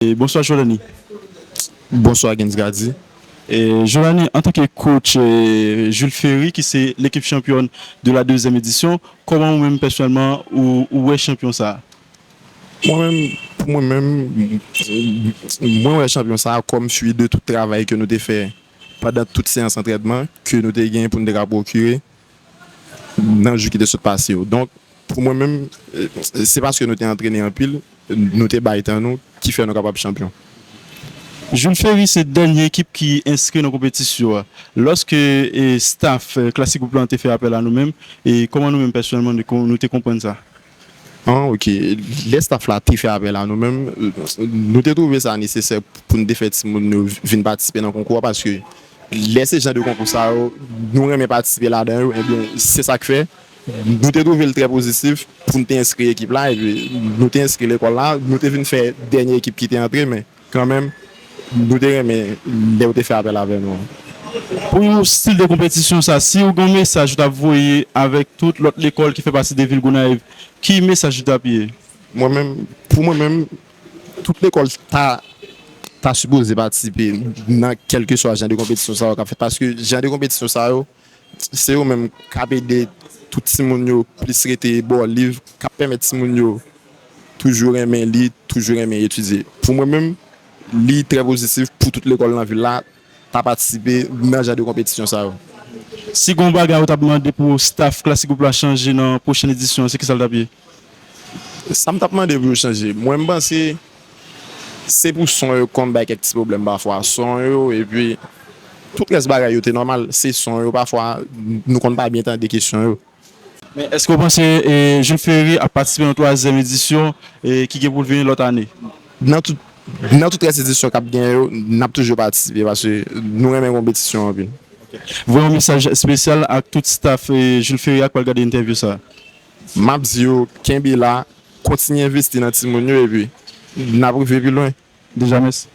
Bonswa Jolany. Bonswa Gens Gardy. Jolany, antanke coach Jules Ferry ki se l'équipe championne de la deuxième édition, kòman ou menm pèsonèlman ou wè chanpyon sa a? Mwen menm, pou mwen menm, mwen wè chanpyon sa a kòm fwi de tout travay ke nou te fè pandan tout seyans antrènman ke nou te gen pou nou te ka pwokire nan jou ki te sot pase yo. Donk, pou mwen menm, se paske nou te antrene anpil, nou te bay tan nou ki fè nou kapab chanpyon. Jules Ferry se dènye ekip ki enskri nan konpetisyo a. Lòske staf Classic Group lan te fè apèl a nou menm, e kòman nou menm pèsonèlman nou te konprann sa? An ok, lè staf la te fè apèl a nou menm, nou te twouve sa nesesè pou n te fè timoun yo vin patisipe nan konkou a paske lè se jan de konkou sa yo nou renmen patisipe ladan yo enben se sa k fè nou te twouve l trè pozitif pou n te enskri ekip la epi nou te enskri lekòl la, nou te vin fè dènye ekip ki te antre men. Kanmenm, nou te renmen lè ou te fè apèl avè nou an. Pou yon stil de konpetisyon sa, si ou gen yon mesaj ou tap voye avèk tout lòt lekòl ki fè pati de vil Gonayiv, ki mesaj li tap ye? Mwen menm, pou mwen menm, tout lekòl ta ta sipoze patisipe nan kèlkeswa jan de konpetisyon sa yo kap fèt paske jan de konpetisyon sa yo, Se yo menm k ap ede tout timoun yo plis rete bò liv, k ap pèmèt timoun yo toujou renmen li, toujou renmen etidye. Pou mwen menm, li trè pozitif pou tout lekòl nan vil la ta patisipe nan jan de konpetisyon sa yo. Si gen yon bagay ou t ap mande pou staf Classic Group la chanje nan pwochen edisyon an, se ki sa l t ap ye? Sam tap mande pou yo chanje mwen mpanse se pou son yo konn bay kèk ti pwoblèm pafwa son yo epi tout rès bagay yo te nòmal se son yo pafwa nou konn pa byen tande kesyon yo. Men èske w panse Jules Ferry ap patisipe nan twazyèm edisyon ki gen pou l vini lòt ane? Nan tout nan tout rès edisyon kap genyen yo nap toujou patisipe paske nou renmen konpetisyon anpil. Voye yon mesaj espesyal ak tout staf Jules Ferry a k pral gade entèvyou sa. Map di yo kenbe la kontinye envesti nan timoun yo epi nap rive pi lwen deja mèsi.